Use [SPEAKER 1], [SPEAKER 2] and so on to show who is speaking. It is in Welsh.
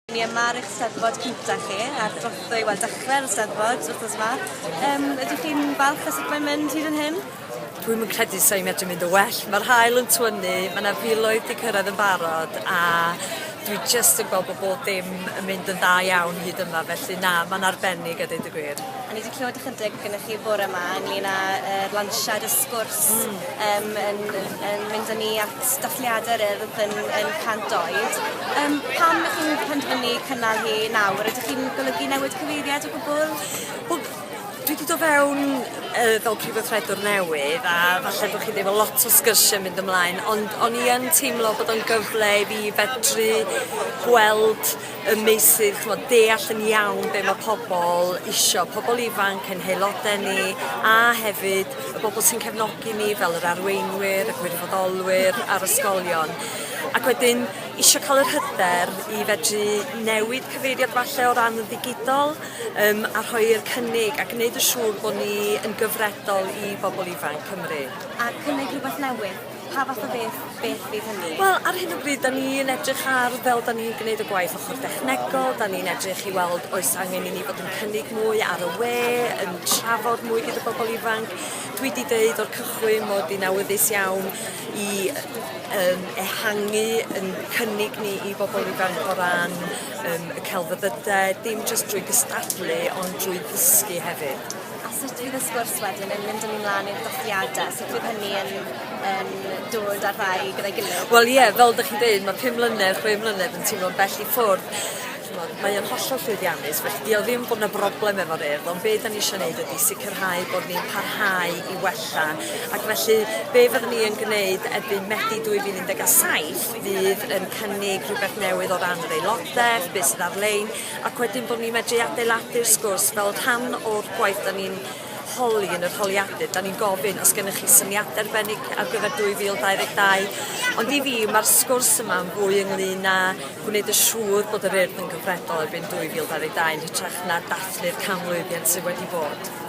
[SPEAKER 1] Ni yma ar eich Steddfod cynta chi, ar drothwy, wel dechrau'r Steddfod wrthnos yma. Um, ydych chi'n falch o sut mae'n mynd hyd yn hyn? Dwi'n mynd credu sa'i medru mynd o well. Mae'r hael yn twynu, mae yna filoedd di cyrraedd yn barod a dwi just yn gweld bod bob dim yn mynd yn dda iawn hyd yma, felly na, mae'n arbennig a dweud y gwir. A ni wedi clywed ychydig gyda chi fore yma ynglyn â'r er lansiad y sgwrs mm. um, yn, yn mynd â ni at sefydliadau yr Urdd yn yn cant oed. Yym pam ych chi'n penderfynu cynnal hi nawr? Ydych chi'n golygu newid cyfeiriad o gwbwl? Wel dwi 'di do' fewn yy fel prif weithredwr newydd a falle bo' chi ddim yn lot o sgyrsie mynd ymlaen ond o'n i yn teimlo bod o'n gyfle i fi fedru gweld y meysydd ch'mod deall yn iawn be' ma' pobol isio, pobol ifanc, ein haelode ni, a hefyd y bobl sy'n cefnogi ni fel yr arweinwyr, y gwirfoddolwyr a'r ysgolion. Ac wedyn isio cael yr hyder i fedru newid cyfeiriad falle o ran y ddigidol um, a rhoi'r cynnig a gwneud yn siŵr bod ni yn gyfredol i bobl ifanc Cymru. A cynnig rhywbeth newydd. Pa fath o beth, beth fydd hynny? Wel, ar hyn o bryd, da ni yn edrych ar fel da ni'n gwneud y gwaith ochr dechnegol, da ni'n edrych i weld oes angen i ni fod yn cynnig mwy ar y we, yn trafod mwy gyda bobl ifanc. Dwi wedi dweud o'r cychwyn mod i'n awyddus iawn i um, ehangu yn cynnig ni i bobl ifanc o ran um, y celfyddydau, dim jyst drwy gystadlu ond drwy ddysgu hefyd. A sut fydd y sgwrs wedyn yn mynd â ni mlan i'r dathliade? Sut fydd hynny yn yn dod â'r ddau gyda'i gilydd? Wel ie fel 'dych chi'n deud ma' pum mlynedd chwe mlynedd yn timlo'n bell i ffwrdd ch'mod mae o'n hollol llwyddiannus felly 'di o ddim bo' 'na broblem efo'r Urdd ond be' 'dan ni isio neud ydi sicirhau bod ni'n parhau i wella ac felly be' fyddwn ni yn gneud erbyn Medi dwy fil un deg a saith fydd yn cynnig rhywbeth newydd o ran yr aelodaeth be' sydd ar-lein ac wedyn bod ni'n medru adeiladu'r sgwrs fel rhan o'r gwaith 'da ni'n holi yn yr holiadur, 'da ni'n gofyn os gennych chi syniadau arbennig ar gyfer 2022, ond i fi ma'r sgwrs yma'n fwy ynglŷn â gwneud yn siŵr bod yr Urdd yn gyfredol erbyn 2022 yn hytrach na dathlu'r canmlwyddiant sydd wedi bod.